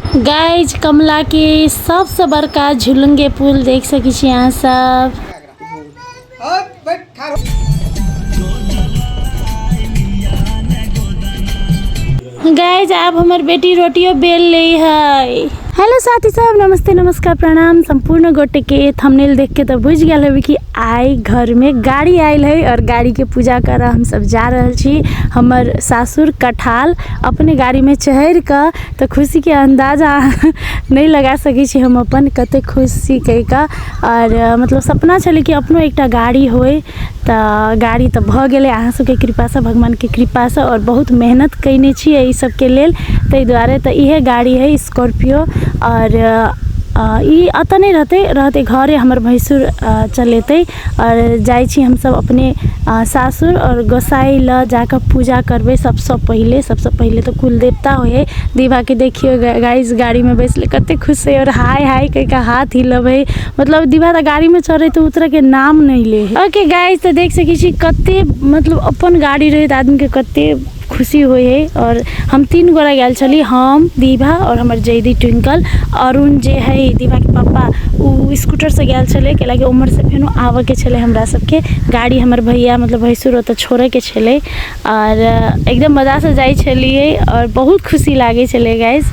guys Kamla के सबसे बड़का झुलुंग के पुल देख सकी छी अहाँ सब गाइज आब हमर बेटी रोटियो बेल ले है हेलो साथी सब नमस्ते नमस्कार प्रणाम संपूर्ण गोटे के थंबनेल देख के तो बुझ गया होबे कि आई घर में गाड़ी आयल है और गाड़ी के पूजा कर हम सब जा रहल छी हमर सासुर कठाल अपने गाड़ी में चहर के तऽ खुशीके अन्दाजा नहि लगा सकै छी हम अपन कते खुश छी कहि कऽ आओर मतलब सपना छलै कि अपनो एकटा गाड़ी होइ तऽ गाड़ी तऽ भऽ गेलै अहाँ सबके कृपासँ भगवानके कृपासँ आओर बहुत मेहनत कयने छी अइ सबके लेल तै दुआरे तऽ इएहे गाड़ी हय स्कॉर्पियो आओर ई एतऽ नहि रहतै रहतै घरे हमर भैंसुर चलेतै आओर जाइ छी हमसब अपने सासुर आओर गोसाइ लऽ जाकऽ पूजा करबै सबसँ पहिले सबसँ पहिले तऽ कुल देवता होइ हय दीवाके देखियौ गाइस गाड़ीमे बैसले कते खुश हय आओर हाय हाय कहि कऽ हाथ हिलबै मतलब दीवा तऽ गाड़ीमे चढ़ै तऽ उतरैके नाम नहि लै हय ओके गाइस तऽ देख सकै छी कते मतलब अपन गाड़ी रहैत आदमीके कते खुशी होइ हइ आओर हम तीन गोरा गेल छली हम विभा आओर हमर जैदी ट्विंकल अरुण जे हइ विभाके पप्पा ओ स्कूटरसँ गेल छलै कैला कि ओमहरसँ फेनो आबऽके छलै हमरा सबके गाड़ी हमर भैया मतलब भैंसुर ओतऽ छोड़ैके छलै आओर एकदम मजासँ जाइ छलियै आओर बहुत खुशी लागै छलै गाइस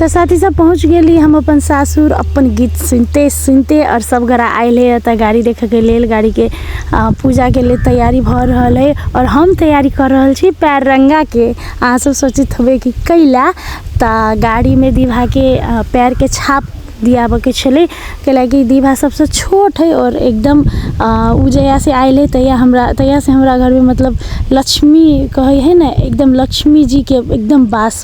तो साथी सब पहुँच गेली हम अपन सासुर अपन गीत सुनिते सुनिते आओर सब गोरा आएल हइ एतऽ गाड़ी देखैके लेल गाड़ीके पूजाके लेल तैआरी भऽ रहल हइ आओर हम तैआरी कऽ रहल छी पाएर रङ्गाके अहाँसभ सोचैत हेबै कि कइला तऽ गाड़ीमे दीवाके पाएरके छाप दिआबऽके छलै कैलाकि दीवा सबसँ छोट हइ आओर एकदम ओ जहिआसँ आएल हइ तहिआ हमरा तहिआसँ हमरा घरमे मतलब लक्ष्मी कहै हइ ने एकदम लक्ष्मीजीके एकदम वास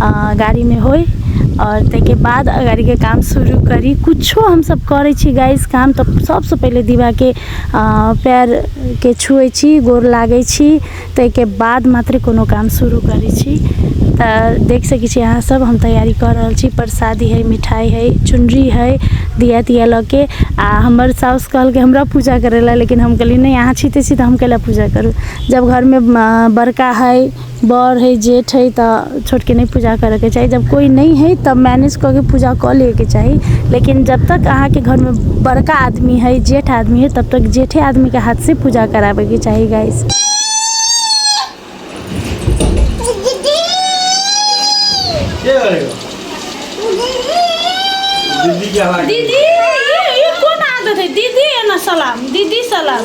गाड़ीमे होइ आओर ताहिके बाद गाड़ीके काम शुरू करी किछो हमसभ करै छी गाइज काम तऽ सभसँ पहिले दीवाके पएरके छुए छी गोर लागै छी ताहिके बाद मात्र कोनो काम शुरू करै छी तऽ देख सकै छी अहाँसभ हम तैयारी कऽ रहल छी परसादी हइ मिठाइ हइ चुनरी हइ दीया तीया लऽ कऽ आ हमर सासु कहलकै हमरा पूजा करय लेल लेकिन हम कहलियै नहि अहाँ छी तऽ छी तऽ हम कएले पूजा करू जब घरमे बड़का हइ बड़ हइ जेठ हइ तऽ छोटके नहि पूजा करऽके चाही जब कोइ नहि हइ तब मैनेज कऽ के पूजा कऽ लेबेके चाही लेकिन जब तक अहाँके घरमे बड़का आदमी हइ जेठ आदमी हइ तब तक जेठे आदमीके हाथ से पूजा कराबेके चाही गाइस के गरेको दिदी क्या लाग्यो दीदी ये ये कौन आदत है दीदी है ना सलाम दीदी सलाम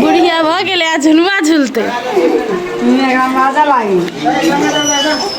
बुढ़िया भऽ गेलै आ झुलवा झुलतै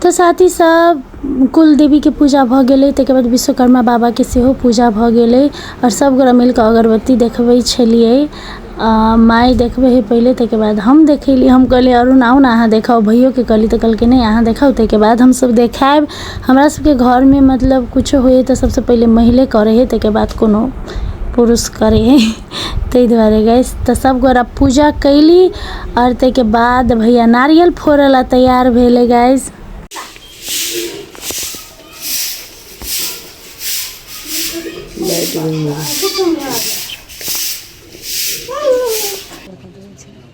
तऽ साथ ही सब कुल देवी के पूजा भऽ गेलै ताहिके बाद विश्वकर्मा बाबा के सेहो पूजा भऽ गेलै आओर सब गोरा मिल कऽ अगरबत्ती देखबै छलियै आ, माय देखबै है पहिले ताहिके बाद हम देखेली हम कहलियै अरुण आउ ने अहाँ देखाउ भैयो के कहली तऽ कहलकै नहि अहाँ देखाउ ताहिके बाद हम सब देखायब हमरा सबके घर मे मतलब कुछो होइया तऽ सबसे पहिले महिले करै है ताहिके बाद कोनो पुरुष करै है ताहि दुआरे गैस तऽ सब गोरा पूजा कैली आओर ताहिके बाद भैया नारियल फोड़े ला तैयार भेले गैस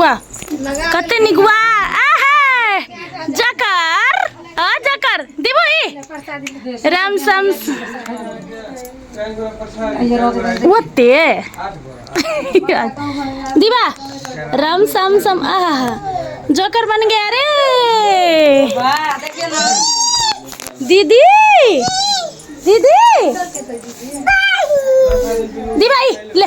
वाह कते नीक वाह आहा जकर आ जकर दिबो ई राम सम ओते दिबा राम सम सम आहा जोकर बन गया रे दीदी दीदी दी भाई ले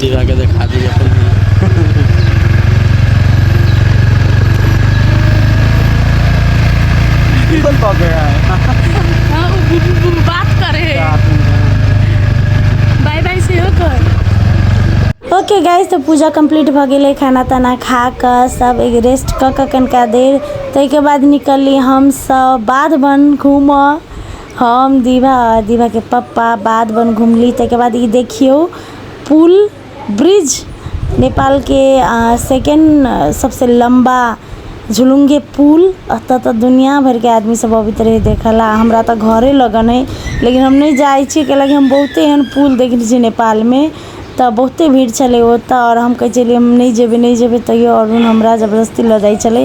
दिखा के देखा दी अपन गूगल पा गया है हाँ, वो बु- बु- बु- बात करे बाय बाय से हो कर ओके गाइस तो पूजा कंप्लीट भऽ गेलै खाना ताना खा कऽ सब एक रेस्ट कऽ कऽ कनिका देर ताहिके बाद निकलली हमसभ बाध बन घूमऽ हम दिभा आ दिभाके पप्पा बाध बन घुमली ताहिके बाद ई देखियौ पुल ब्रिज नेपालके सेकेण्ड सभसँ लम्बा झुलुङ्गे पुल एतय तऽ दुनिआँ भरिके आदमीसभ अबैत रहै देखय लेल हमरा तऽ घरे लगन अइ लेकिन हम नहि जाइत छी कैलाकि हम बहुते एहन पुल देखने छी नेपालमे तऽ बहुते भीड़ छलै ओतय आओर हम कहैत छलियै हम नहि जेबै नहि जेबै तैयो अरुण हमरा जबरदस्ती लऽ जाइत छलै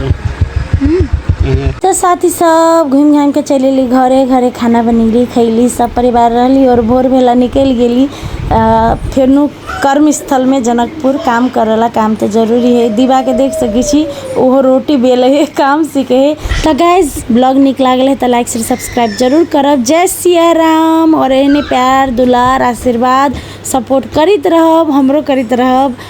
तो साथी सब घूम घाम के चल अली घरे घरे खाना बनैली खैली सब परिवार रहली और भोर भेला निकल गेली फिर कर्म स्थल में जनकपुर काम करेला काम तो जरूरी है दीवा के देख सकी छी ओहो रोटी बेल है काम सीखे है तो गाइज ब्लॉग निक लागल है तो लाइक शेयर सब्सक्राइब जरूर करब जय सिया राम और एहने प्यार दुलार आशीर्वाद सपोर्ट करीत रहब हमरो करीत रहब